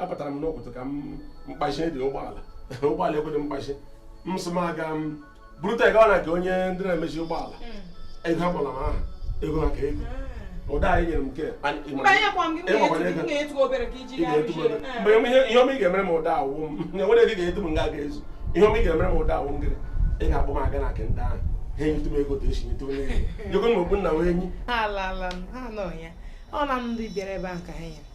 apụtara m n'ụtụtụ ka m mkpachi dị ụgbọala ụgbọala ekwedị mkpachi m sị m aga m burute gawa na nke onye ndị na-emezi ụgbọala hmm. ego ha kpọrọ m aha ego maka ego hmm. ụda anyị nyere m nke mgbe ihe ọma ị ga-emere m ugbu a wụ m enwere ego ga-edu m nga ga-ezu ihe ọma ị ga-emere m ugbu a wụ m gịrị ị ga-akpọ m aga na nke ndị ahụ ha enyetu m ego esi nyetu onye ego nyego m okpu nna wee enyi ọ na ndị bịara ebe ahụ ka ha nyere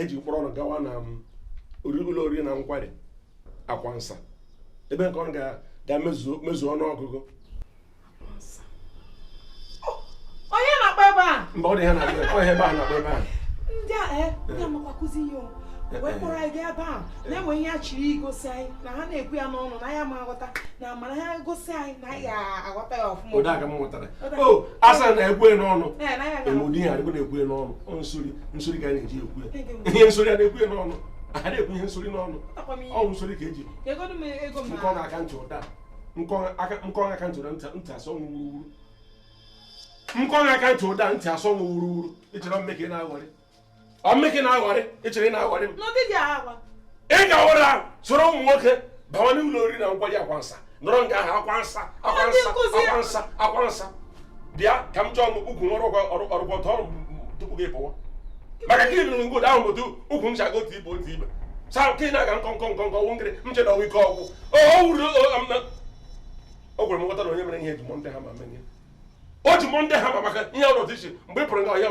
eji kpọrọ ụnụ gawa na um, ụlọ oriri na nkwari akwa nsa ebe nke ụnụ ga-emezu ọnụ ọgụgụ onye na-akpa ebe a mba ọ dị ha na-akpa ebe a na-akpa ebe a ndị a eh, ndị na-akuzi ihe o wee kpọrọ anyị gaa ebe a na-enwe ihe a chiri igosi anyị na ha na-ekwu ya n'ọnụ na anyị ama aghọta na mana ha gosi anyị na anyị ga-aghọta ya ọfụma o asa na-ekwu n'ọnụ enwe ụdị ihe adịghị na-ekwu n'ọnụ nsori nsori ka a na-eji ekwu ihe nsori a na-ekwu n'ọnụ a na-ekwu ihe nsori n'ọnụ ọ wụ nsori ka eji nkọ aka ntị ụda nkọ aka ntị ụda ntị asọ nwụ wuruwuru nkọ aka ntị ụda ntị asọ nwụ wuruwuru i chere m ka ị na-aghọrị ọ m ka ị na-aghọrị i chere ị na-aghọrị m ị ga-awere ahụ soro ụmụ nwoke bawa n'ụlọ oriri na nkwari akwa nsa nọrọ nga ahụ akwa nsa akwa nsa akwa nsa akwa nsa bịa ka m chọọ m ukwu nwere ọrụgwọ tọọ tupu gị pụwa maka ka ịdụrụ ngod ahụ bụ ukwu ncha go otu ibe otu ibe saa nke na-aga nkọ nkọ nkọ nkọ nwụnkịrị m che na ọnwa ike ọgwụ o wuru o gwere m nghọta na onye mere ihe eji mọ ndị ha ma menye o ji mọ ndị ha ma maka ihe ọrụ ọdịchi mgbe ị pụrụ nga ọhịa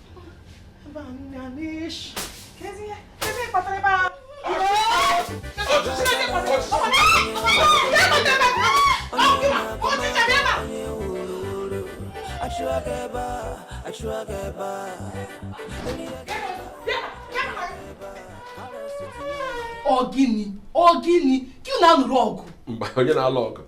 ọ gịnị ọ gịnị ka ị na-alụrụ ọgụ mgbe onye na-alụ ọgụ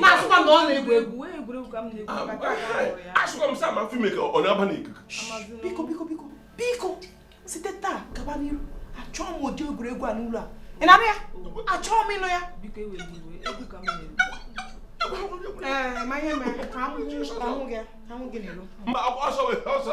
na-asịkwa na ọ na-egwu egwu asịkwa m sa ma fim ka ọ na-aba n'ikuku biko biko biko biko site taa gaba n'iru achọọ m ụdị egwuregwu a n'ụlọ a ị na-anụ ya achọọ m ịnụ ya ma ihe mere ka ahụ gị n'elu mba ọsọ ọsọ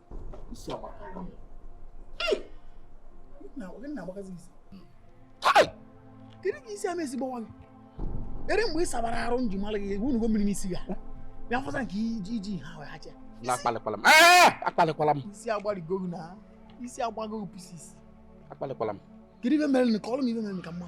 kedu ka isi ama ezigbo nwa gị ere mgbe ị sabara arụ m ji mara gị egwu nugo mmiri n'isi ya bịa fọsa nke iji iji ha wee hacha akpalịkwala m akpalịkwala m isi agbarigo gị na isi agbago gị pieces akpalịkwala m kedu ife mere ka ọ lụ m ife mere ka mma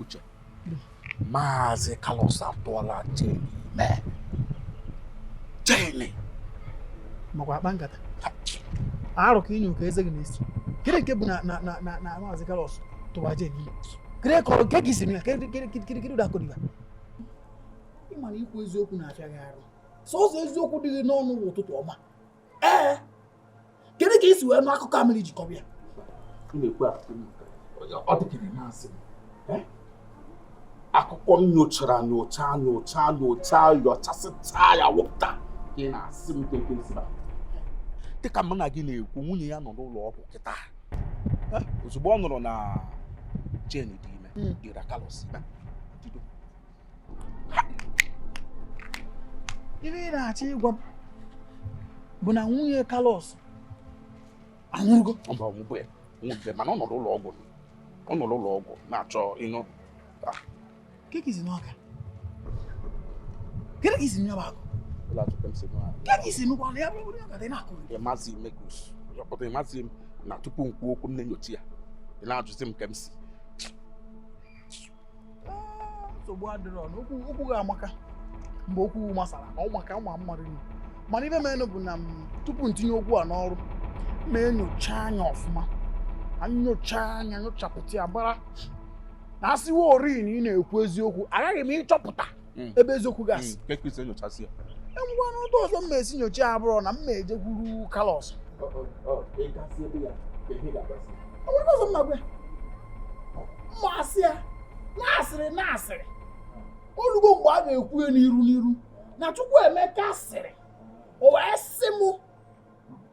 uche maazị Carlos atụọla Jane ime Jane makwa akpa nkata arụ ka ị nyụ ka eze gị na-esi kedu nke bụ na maazị Carlos tụwa Jane ime gịnị kọrọ nke gị si na ya kedu ụdị akọ bụ ya ị ma na ikwu eziokwu na-afịa gị arụ sọsọ eziokwu dị gị n'ọnụ bụ ụtụtụ ọma ee kedu ka i si wee nụ akụkọ a mere jikọrọ ya ọ dịkịrị na-asị m akụkọ m nyochara nyocha nyocha nyocha nyochasịa ya wụpụta ị na-asị m kee ka m si ma dịka mụ na gị na-ekwu nwunye ya nọ n'ụlọ ọgwụ kịta ozugbo ọ nụrụ na Jane dị ime ira hmm. Carlos ife ị na-achọ ịgwa m bụ na nwunye Carlos anwụrụgo mana ọ nọ n'ụlọ ọgwụ ọ nọ n'ụlọ ọgwụ na-achọ ịnwụ ah. kee ka i si n'ọka kee ka i si n'ọba akụ kee ka i si nụkwanụ ya bụrụ ọka dị na-akụ ị mazi Mekus ọ pụta ị mazi m na tupu m kwuo okwu m na-enyocha ya ị na-ajụzi m ka m si ah, nsogbu adịrọ na okwu gị amaka mgbe okwu masara ka ọ maka ụmụ mmadụ nri mana ife menụ bụ na tupu m tinye okwu a n'ọrụ mma enyocha anya ọfụma nyocha anya nyochapụta ya mara na asịwa ori na ị na-ekwu eziokwu aghaghị m ịchọpụta hmm. ebe eziokwu ka asị hmm, ngwa n'ụdị ọzọ mma esi nyocha ya bụrụ na mma ejekwuru Carlos ọzọ mma agwa mma asị ya na a sịrị na a sịrị olugo mgbe a ga-ekwu ya n'iru n'iru na Chukwuemeka sịrị o wee sị mụ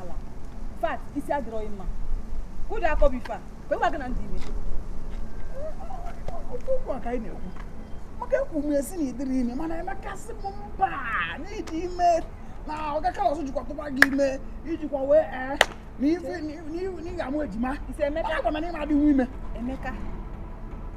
ala fat isi adịrọ gị mma kee ụdị akọ bụ ife a kee onye gwa gị na m dị ime okwu a ka anyị na-ekwu maka ekwu m sị na ị dịrọ ime mana Emeka sị m mba na ị dị ime na Oga Carlos jikwa tụba gị ime ijikwa wee ee na ife na ị ga-amụ ejima isi Emeka agwa m na ịma adịghị ime Emeka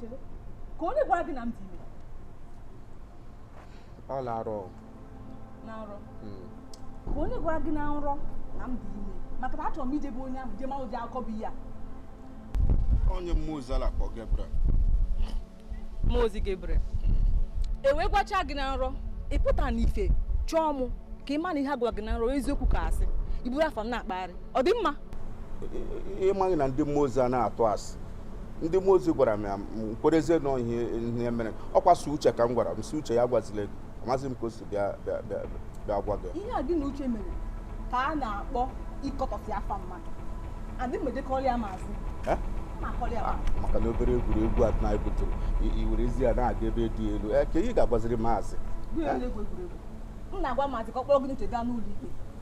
chere ka onye gwara gị na m dị ime ọ na-arọ na nrọ hmm. ka onye gwara gị na nrọ na m dị ime maka na achọrọ m ije be onye ahụ jee ma ụdị akọ bụ ihe a onye mmụọ ozi a na-akpọ Gabriel mmụọ ozi Gabriel hmm. e wee gwacha gị na nrọ ị pụta n'ife chọọ mụ ka ị ma na ihe a gwara gị na nrọ eziokwu ka asị i buru afọ m na-akpagharị ọ dị mma ị maghị na ndị mmụọ ozi a na-atụ asị ndị mmụọ ozi gwara m ya m kwerezie na ọ ihe mere ọ kwa sọ Uche ka m gwara m sị Uche ya gwazile gị amazị m ka o si bịa gwa gị ihe a gị na Uche mere ka a na-akpọ ịkọtọsị afa mmadụ adị mgbe dịkọrọ ya maazị Eh? ma akọrọ ya Ah, maazị maka na obere egwuregwu a na ebutụrụ i werezie ya na-aga ebe dị elu ee ka ị ga-agwaziri maazị gụnyere egwu egwuregwu m na-agwa maazị ka ọ kpọrọ gị na Uche gaa n'ụlọ ikpe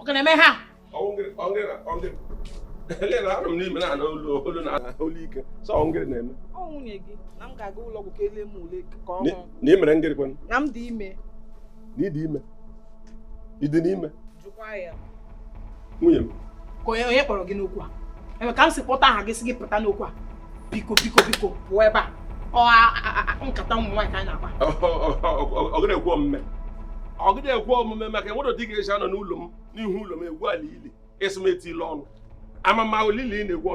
ọ ga na-eme ha na imere ngịrị kwanụ na m dị ime na ịdị ime ịdị n'ime nwunye m onye kpọrọ gị n'okwu a ebe ka m si kpọta aha gị si gị pụta n'okwu a biko biko biko pụọ ebe a nkata ụmụ nwaanyị ka anyị na-akpa ọ gadị ekwe omume ọ gadị ekwe omume maka e nwere ụdị ị ga-esi anọ n'ụlọ m n'ihu ụlọ m egwu ala ili ị sị m etinyele ọnụ ama m ma ili ị na-egwu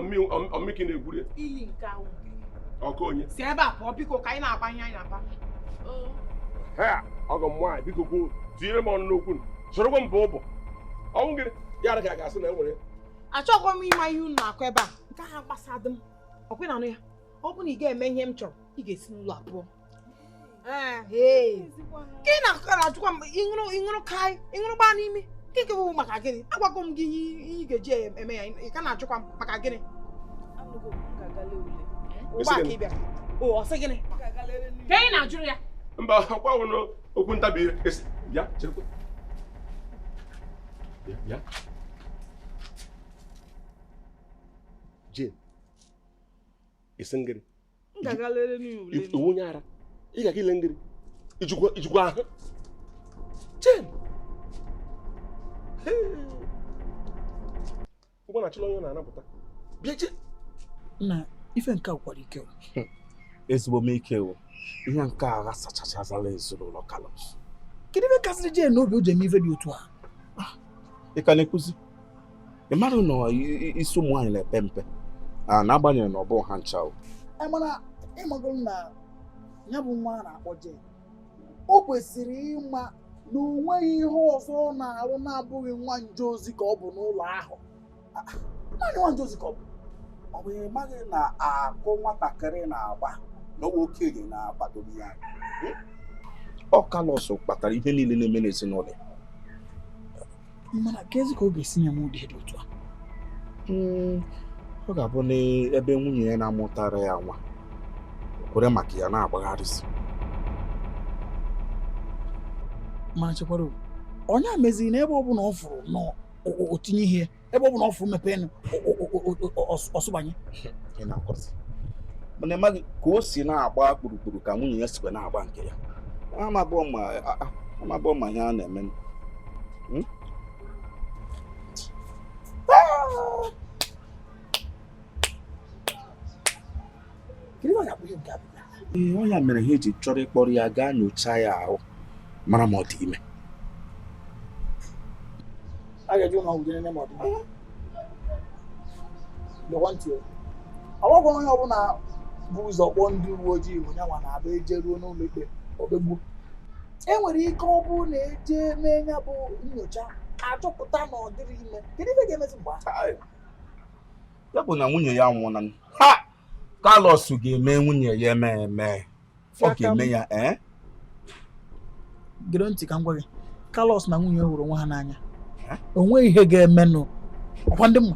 ọ mị ka ị na-egwuri ya ọkụ onye si ebe a pụọ biko ka anyị na-akpa ihe anyị na-akpa ọgọ m nwaanyị biko kwuo tinyere m ọnụ n'okwu sorokwa m bụ ụbọ ọnwụ gịnị ya ga-asị na enwere achọghị m ịma ihe unu na-akọ ebe a nke ahụ agbasadị m ọkwa na anụ ya ọ bụ na ị ga-eme ihe m chọrọ ị ga-esi n'ụlọ a pụọ gị na-ajụkwa m ị ṅụrụ kai ị ṅụrụ gbaa n'ime nke bụ maka gịnị agwago m gị ihe ị ga-eji eme ya ị ka na-ajụkwa m maka gịnị ugbu a ka ị bịara o ọ sị gịnị ka ị na-ajụrụ ya mba ọkwa wụrụ okwu ntabi ire bịa cherekwa bịa Jane, ị sị ngịrị. M ga-aga lere n'ule. Ị wụ onye ara, ị ga-aga ile ngịrị. I jikwa ahụ. Jane! Ụgbọ na-achịla onye na-anapụta. Bịa Jane! Nna, ife nke a gwụkwara ike. Hmm. Ezigbo m ike o. Ihe nke a aghasachachazala ezinụlọ Carlos. Kedu ife kasịrị Jane n'obi o ji eme ife dị otu a? Ah, ị ka na-ekwuzi? ị mara na isi ụmụ nwaanyị na-epe mpe n'agbanyeghị na ọ bụ ha ncha o mana ị mago na ya bụ nwa a na-akpọ Jane o kwesịrị ịma na o nweghị ihe ọzọ ọ na-arụ na-abụghị nwa nje ozi ka ọ bụ n'ụlọ ahụ naanị nwa nje ozi ka ọ bụ ọ bụ ị maghị na akụ nwatakịrị na-agba na ọ wụ okenye na-akwadobe ya ọ Carlos kpatara ihe niile na-eme n'ezinụlọ mana kezi ka ọ ga-esi nye m ụdị dị otu a hmm, ọ ga-abụ n'ebe nwunye ya na-amụtara ya nwa kwere maka ya na-agbagharịsị mana chekwara onye a meziri na ebe ọ bụla ọ fụrụ na o tinye ihe ebe ọ bụla ọ fụrụ mepee ọ sụbanye mana ịmaghị ka o si na-agba kpurukpuru ka nwunye ya sikwa na-agba nke ya amabụọ ma ihe a na-eme Hmm? ee ọ ya mere ha eji chọrọ ịkpọrọ ya gaa nyochaa ya ahụ mara ma ọ dị ime ọ bụghịkwa onye ọbụla bu ụzọ kpọọ ndị uwe ojii bụ nyanwa na-abụ e jeruo n'ụlọ ikpe o kpegbuo e nwere ike ọ bụrụ na e je mee ya bụ nyocha a chọpụta na ọ dịrị ime kedu ife ga-emezi mgbe ahụ ya bụ na nwunye ya nwụọna Carlos ga-eme nwunye ya eme eme ọ ga-eme ya ee eh? gere ntị ka m gwa gị Carlos na nwunye hụrụ onwe ha n'anya eh? o nweghị ihe ga-emenụ ọkwa ndị mma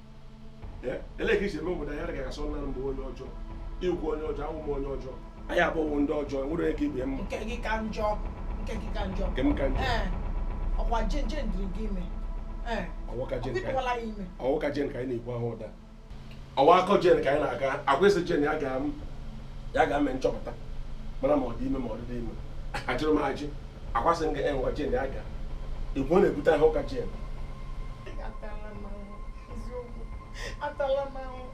ele ka i si eme obodo anyị agaghị asọ nna m bụ onye ọjọọ ị wụ onye ọjọọ awụ m onye ọjọọ anyị abụghị ndị ọjọọ enwere onye ka ibe mma nke gị ka njọ nke gị ka njọ nke m ka njọ Ee, ọkwa jen jen dịịrị gị ime Ee, ọ wụ ụka jen ka anyị- o bidowala ya ime ọ wụ ụka jen ka anyị na-ekwu ahụ ụda ọwa akọ jen ka anyị na-aga agwa esi jen ya ga ya ga mee nchọpụta mara ma ọ dị ime ma ọ dịghị ime ajụrụ m ajụ akwasị m gị enwa jen ya ga igwe ọ na-ebute ahụ ụka jen atala m ahụhụ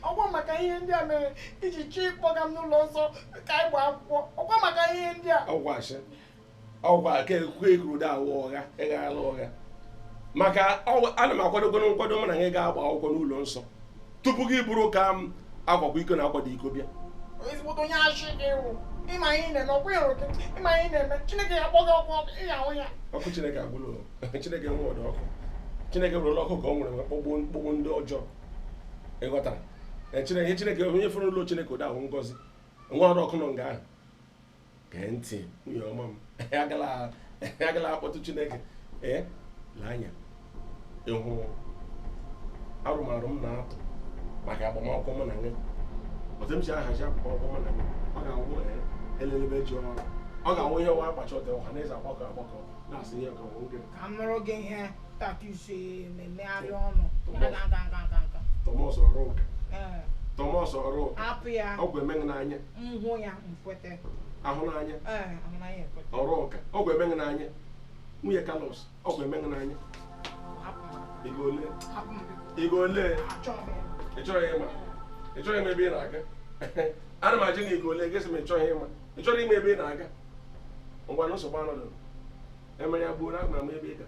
ọkwa maka ihe ndị a mere i ji chọọ ịkpọga m n'ụlọ nsọ ka anyị gbaa akwụkwọ ọkwa maka ihe ndị a ọ wụ asị ọkwa ka ekwe ekuru da ọ wụ ụgha ị ghala ụgha maka na m akwadogo nkwado mụ na gị ga-agba akwụkwọ n'ụlọ nsọ tupu gị bụrụ ka m akwakwa iko na akwadị iko bịa ezigbote onye asị gị wụ ịma ihe na-eme ọkwa ị hụrụ gị ịma ihe na-eme chineke ya-akpọ gị ọkụ ị ya-ahụ ya ọkụ chineke a bụrụ chineke nwe ọdọ ọkụ chineke buru ọkụ ka o nwere kpọgbuo ndị ọjọọ ịghọtara chineke chineke onye fụrụ ụlọ chineke ụda ahụ ngozi nwe ọdọ ọkụ nọ nga ahụ gee ntị nwunye ọma m agala akpọtụ chineke ee lee anya ịhụ arụmarụ m na-atụ maka agbamakwụkwọ mụ na gị otu m si ahazi agbamakwụkwọ mụ na gị ọ ga-awụ elelebe eje ọrụ ọ ga-awụ ihe nwa akpacha ọtọ ọha na eze agbakọ agbakọ na-asị ihe ka nwoke ka m nụrụ gị ihe tatus na-emegharị ọnụ tọmọs ọrụ ụka tọmọs ọrụ ụka ọ ga-eme gị n'anya m hụ ya m kwete ahụ n'anya ee ahụ n'anya ekwete ọrụ ụka ọ ga-eme gị n'anya nwunye kalos ọ ga-eme gị n'anya hapụ m ego ole hapụ m biko ego ole achọghị m ịma ị chọrọ ịma ị chọrọ ịma ebe ị na-aga ana m ajụ gị ego ole gị sị m ị chọghị ịma ị chọrọ ịma ebe ị na-aga ngwanụ nsogbu anọdụ emere ya gbuo na agwara m ebe ị ga